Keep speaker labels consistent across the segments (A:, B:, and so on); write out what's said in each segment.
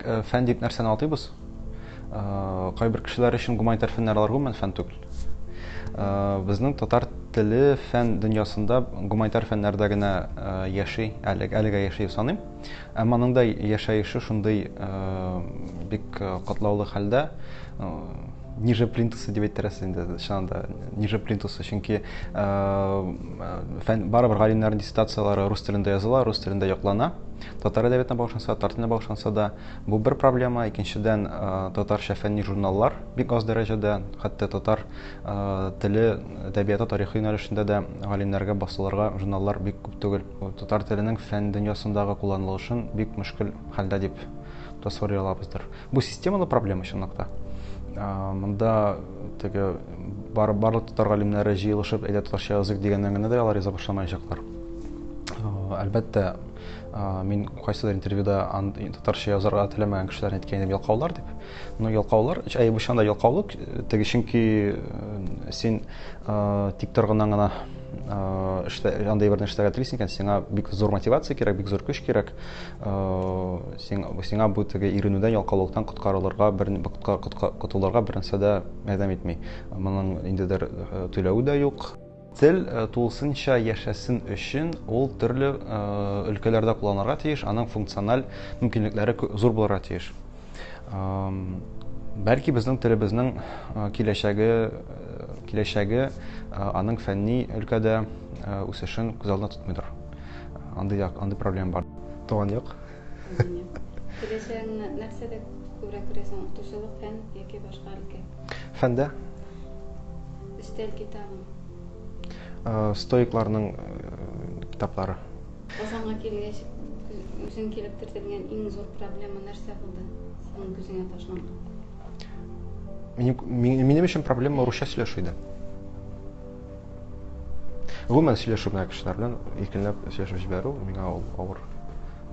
A: Э, фән дип нәрсәне атыйбыз э, кайбер кешеләр өчен гуманитар фәннәр алар гомумән фән түгел э, безнең татар теле фән дөньясында гуманитар фәннәрдә генә яши әлегә яши саныйм Ә моның да яшәеше шундый бик катлаулы хәлдә, ниже плинтусы дип әйтерәсе инде, чыннан да, ниже плинтусы, чөнки фән, барыбер галимнәрнең диссертацияләре рус телендә языла, рус телендә яклана. Татар әдәбиятына багышланса, татар теленә багышланса да, бу бер проблема, икенчедән, татарча фәнни журналлар бик аз дәрәҗәдә, хәтта татар теле әдәбияты тарихы юнәлешендә дә галимнәргә басылырга журналлар бик күп түгел. Татар теленең фән дөньясындагы кулланылышын бик мөшкел хәлдә дип тасвири алабыздыр. Бу системалы проблема чынлыкта. Монда теге бар, барлык татар галимнәре җыелышып, әйдә татарча язык дигәннән генә дә алар яза башламаячаклар. Әлбәттә, мин кайсыдыр интервьюда татарча язарга теләмәгән кешеләрне әйткән идем, ялкаулар дип. Ну, ялкаулар, чайбышан да ялкаулык, теге чөнки син тик торгыннан гына эштә андай берне эшләргә телисең икән, сиңа бик зур мотивация кирәк, бик зур көч кирәк. Сиңа сиңа бу теге иренүдән, ялкаулыктан коткарылырга, бер котылырга бернәрсә дә ярдәм итми. Моның инде дер түләве дә юк. Тел тулысынча яшәсен өчен, ул төрле өлкәләрдә кулланырга тиеш, аның функциональ мөмкинлекләре зур булырга тиеш. Бәлки безнең телебезнең киләчәге, киләчәге аның фәнни өлкәдә үсешен күз алдына тотмыйдыр. Андый, андый проблема бар. Туган як. Киләчәгеңне нәрсәдә күрә күрәсең? Укытучылык, фән яки башка өлкә? Фәндә. Өстәл китабы. Э, стоикларның э, китаплары. Казанга килгәч, үзең килеп кертелгән иң зур проблема нәрсә булды? Синең күзеңә ташланган. Минем, минем өчен проблема русча сөйләшү иде. Гомумән сөйләшү генә кешеләр белән иркенләп сөйләшеп җибәрү миңа ул авыр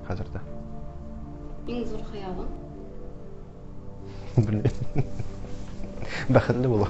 A: хәзердә. Иң зур хыялың? Белмим. Бәхетле булу.